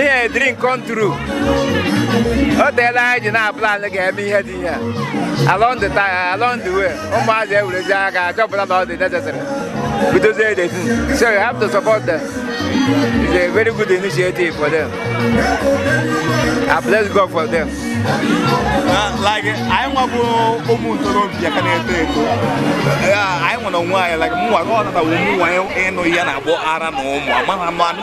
ihe drink kontru o teela anyị ji na-aplan ga-eme ihe dị ihe along the time along the way ụmụazị ewerezie aka achọpụta na ọ dị necessary bidozie the thing so you have to support them it's a very good initiative for them I bless God for them like anyị nwa bụ ụmụ ntorobịa ka na-eto eto anyị nwere onwe anyị like mụnwa ọ na taa wụ mụ nwa ịnụ ya na-akpọ ara na ụmụ amaghị anụ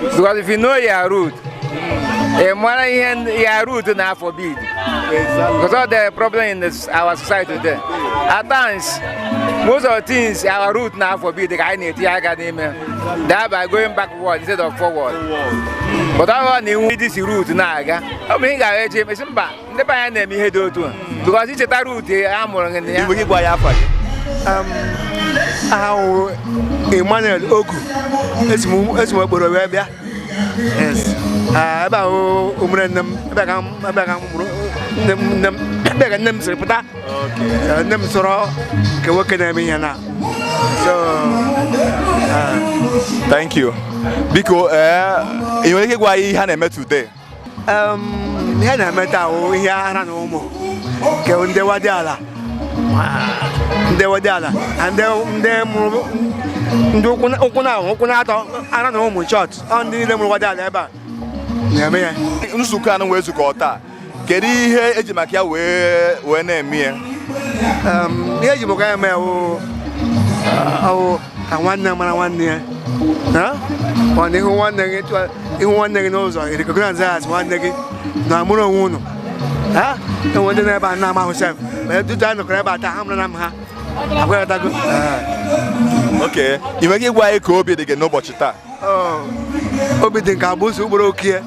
because if you know your root ị mara ihe your root na-aforbid because of the problem in this, our society today at times most of the things our root na-aforbid ka anyị na-etinye aka n'ime thereby going backward instead of forward but ọ bụrụ na iwu dị si root na-aga ọ bụ ihe ị ga-aga eche mesi mba ndị be anyị na-eme ihe dị otu a because ị cheta root a mụrụ gị nna anyị biko gị gwa anyị afa gị. aha m wụ Emmanuel Ogu esi m esi m Okporo wee bịa Yes. Ah, ebe a wụ ụmerenne m ebe a ka m ebe a ka a mụrụ nne m nne m ebe a ka nne m siri pụta Eh, nne m soro nke nwoke na-eme ihe na so ah, Thank you. Biko, ee, ị nwere ike ịgwa anyị ihe a na-eme today? ihe a na-eme taa wụ ihe ara na ụmụ nke ndị nwadiala ndị nwadiala na ndị ndị mụrụ ndị ụkwụ na- ụkwụ na ụkwụ na atọ ara na ụmụ short ọ ndị niile mụrụ nwadiala ebe a na-eme ya nzukọ a unu wee zukọ taa kedu ihe eji maka ya wee wee na-eme ya Em, ihe eji maka ya eme ya wụ- ọ wụ ka nwanne mara nwanne ya ọ na ị hụ nwanne gị ị hụ nwanne gị n'ụzọ recognize as nwanne gị na amụrụ onwe unu e nwee ndị nọ ebe a na-amahụ sef ma etu a nọkọrọ ebe a taa ha mụrụ na m ha aghọtago okay ị nwere ike ịgwa anyị ka obi dị gị n'ụbọchị taa obi dị nke abụ ụsọ ugboro okie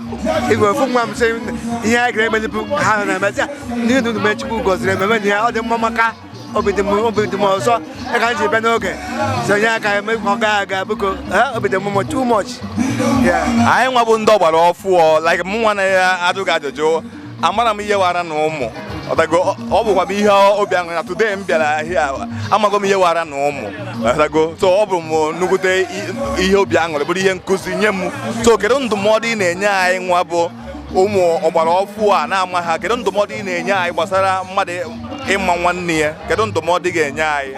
igwe ofu nwa m sị ihe anyị gara emezipu ha na-emezi ya n'ihi na unu mechukwu gọziri ememe na ya ọ dị mma maka obi dị m ụsọ ya ka m ji bịa n'oge sonye aka eme ka ọ gaa aga biko obi dị m too much anyị nwa bụ ndị ọgbara ọfụọ like m nwa na-ajụ gị ajụjụ amarọ m ihe wụ ara na ụmụ ị ghọtago ọ bụkwa m ihe obi aṅụrị na today m bịara here amago m ihe wụ ara na ụmụ ị ghọtago so ọ bụ m nnukwute ihe obi aṅụrị bụrụ ihe nkụzi nye m so kedu ndụmọdụ ị na-enye anyị nwa bụ ụmụ ọgbara ọfụ a na-amaha kedu ndụmọdụ ị na-enye anyị gbasara mmadụ ịma nwanne ya kedu ndụmọdụ ị ga-enye anyị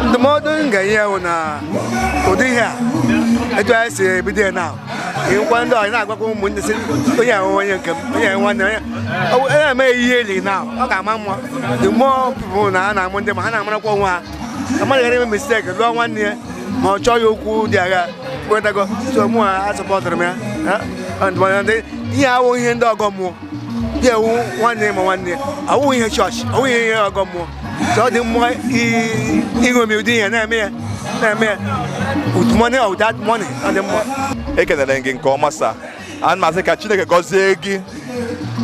ndụmọdụ m ga-enye ya bụ na ụdị ihe a etu anyị si ebido ya na ị gwa ndị ọyị na-agwakwa ụmụnne sị onye ahụ onye nke m onye ahụ nwanne onye ọ bụ- onye na-eme ihe eli na ọ ga-ama mma the more people na a na-amụ ndị ma ha na-amarakwa onwe ha mmadụ ghara ime mistake lụọ nwanne ya ma ọ chọghị okwu dị agha kwetago so mụwa supportụrụ m ya ha? And mana ndị- ihe awụ ihe ndị ọgọ mmụọ ya ewu nwanne ya ma nwanne ya awụ ihe chọọchị awụ ihe ihe ọgọ mmụọ so ọ dị mma i- iṅomi ụdị ihe na-eme ya na-eme ya with money or without money ọ dị mma ekelere m gị nke ọma sa ana m asị ka chineke gọzie gị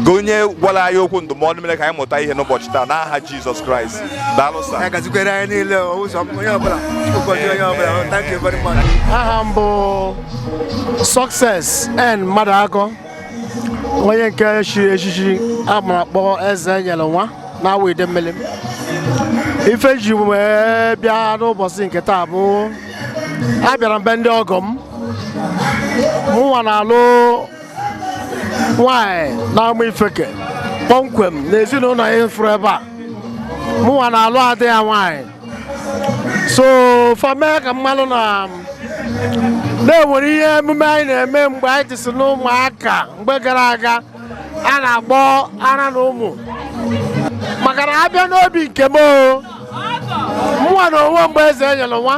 gị onye gwara anyị okwu ndụmọdụ mere ka anyị mụta ihe n'ụbọchị taa n'aha jizọs kraịst daalụ sa ya gazikwere anyị niile o, ụzọ m, onye ọbụla ụbọchị onye ọbụla o, thank you very much aha m bụ success n mmadụakọ onye nke chiri echichi a mara akpọ eze enyelụ nwa na awo idemili ife ji wee bịa n'ụbọchị nke taa bụ abịara m be ndị ọgọ m mụnwa na-alụ nwanyị n'amaifeke kpọmkwem na ezinụlọ anyị fụrụ ebe a mụnwa na-alụ ada ya nwanyị so fa mee ka m malụ na na e nwere ihe emume anyị na-eme mgbe anyị dịsị n'ụmụaka mgbe gara aga a na-akpọ ara na ụmụ maka na a bịa n'obi nke m mụwa na onwe m bụ eze enyelụ nwa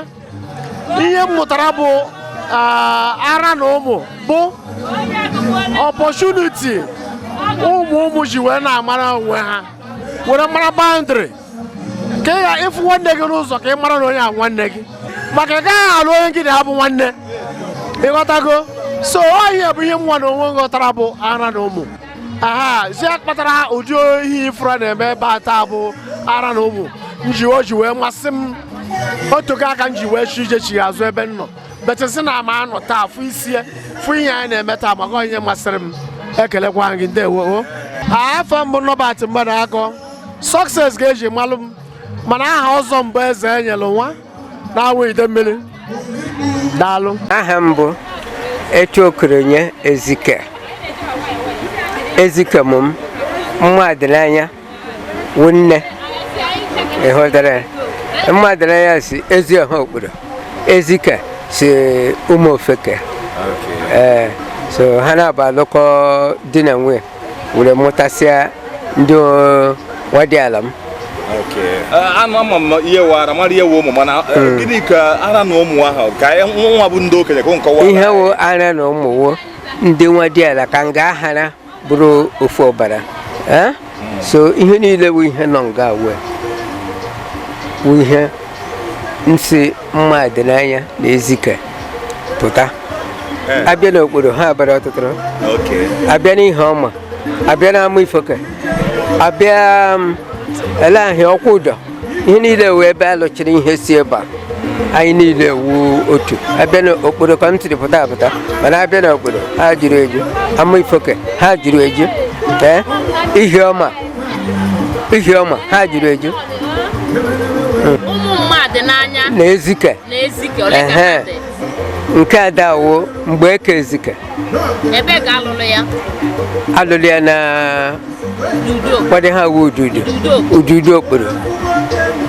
ihe m mụtara bụ ara na ụmụ bụ opportunity ụmụ ụmụ ji wee na-amara onwe ha were mara boundary ka ị ghara ịfụ nwanne gị n'ụzọ ka ị mara na onye a nwanne gị maka ị gaghị alụ onye gị na ya bụ nwanne ịghọtago so ihe a bụ ihe mụnwa na onwe m ghọtara bụ ara na ụmụ aha zi kpatara ụdị ihe ị fụrụ a na-eme ebe a taa bụ ara na ụmụ nji o ji wee masị m otu ka aka m ji wee chi ije chi ya azụ ebe m nọ betesi na ama anọ taa fụ isie fụ ihe anyị na-eme taa maka onye masịrị m ekelekwa gị ndewo afa m bụ norbert mmadụakọ success ka e ji malụ m mana aha ọzọ m bụ eze enyelụ nwa na awo idemili daalụ aha m bụ etu okoronye ezike ezike mụ m mmadịnanya wụ nne ịhụtara ya mmadịnanya si ezi ọha okporo ezike si ụmụ ofeke ee so ha naabọ alụkọọ di na nwunye were mụtasịa ndị nwadịala m anụ ama m ihe wụ ara mara ihe ụmụ mana eh, hmm. gịnị ka ara na ụmụ ahụ ka nwa bụ ndị okenye ka nkọwa ihe wụ ara na ụmụ wụ ndị nwadịala ka nga ahara bụrụ ofu ọbara eh? hmm. so ihe niile bụ ihe nọ nga wee bụ ihe nsị mma dị n'anya na ezike pụta eh. abịa n'okporo ha abara ọtụtụ abịa n'ihioma abịa n'amaifeke abịa um, ele aha okwudo ihe niile wee ebe a lụchiri ihe si ebe a anyị niile wu otu abịa n'okporo ka m tiri pụta apụta mana abịa n'okporo ha juru eju amaifeke ha juru eju ee eh, ihioma ihioma ha juru eju ụmụ mmadụ n'anya na ezike na ezike ole ka ha dị nke ada wụ mgbeke ezike ebe ka alụrụ ya alụrụ ya na ụfọdụ ha wu ududu ududu okporo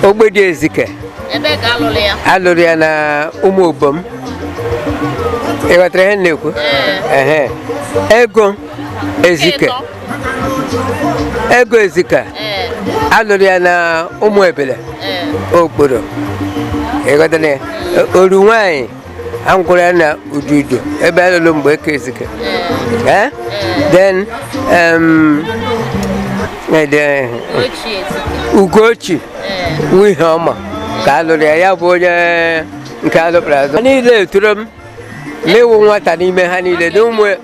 ogbodi ezike ebe ka alụrụ ya alụrụ ya na ụmụ obom ịghọtara ihe m na-ekwu ego ezike ego ezike eh. alụrụ ya na ụmụ ebele eh. okporo ịghọtara ya oru nwanyị alụkwuru ya na ududu ebe alụrụ mgbeke ezike eh. then um, ugochi n'ihioma ka alụrụ ya ya bụ onye nke alụkpụrụ azụ niile etoro m n'ịwụ nwata n'ime ha niile na ụmụ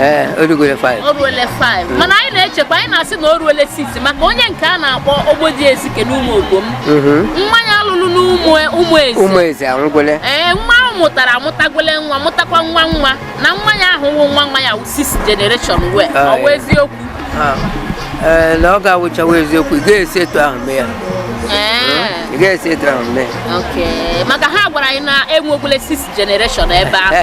ee o rugoro 5 o ruole 5 mana anyị na-echekwa anyị na-asị na o ruole 6 maka onye nke a na-akpọ ogbodi ezike n'ụmụ obom mmanya alụlụ n'ụmụ ụmụ ezi ụmụ eze anwụgole ee nwa ahụ mụtara amụtagole nwa mụtakwa nwa nwa na nwa ya ahụ wụ nwa nwa ya wụ six generation wee Ah, ọ bụ yeah. eziokwu Ah, ee na ọ ga-awụchawa eziokwu ị ga-esi etu ahụ mee ya ee ị ga-esi etu ahụ mee ya ok maka ha gwara anyị na enwegole six generation ebe ahụ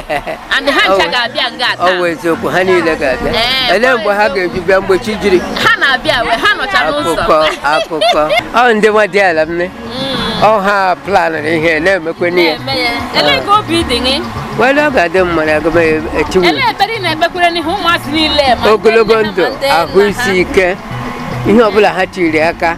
and ha ncha ga-abịa nga a taa ọ wụ eziokwu ha niile ga-abịa eh, ele mgbe ha ga-eji bịa mgbe chi jiri ha na-abịa we ha nọcha n'ụzọ akụkọ akụkọ ọ ndị nwadiala nne mm. ọ ha planụrụ ihe na-emekwe n'ihe elee ka obi dị gị wele ọ ga-adị mma na agụm echiwu elee ekpere ị na-ekpekwere n'ihe ụmụazị niile ogologo ndụ ahụ isi ike ihe ọbụla ha tiri aka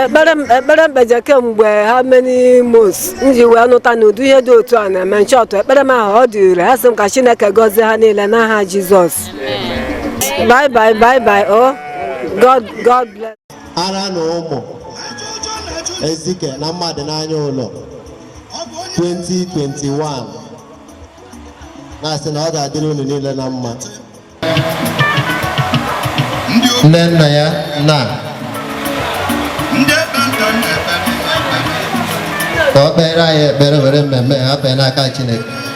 ekpere ekpere m kpeje kemgbe how many months m ji wee nụta na ụdị ihe dị otu a na-eme m chọtụ ekpere m ahụ ọ dị ire ha sị m ka chineke gọzie ha niile n'aha jizọs bye bye bye bye o oh. god god bless ara na ụmụ ezike na mmadụ n'anya ụlọ 2021 na-asị na ọ ga-adịrị unu niile na mma nne nna ya na ka o kpeere anyị ekpere were mmemme hafee n'aka Chineke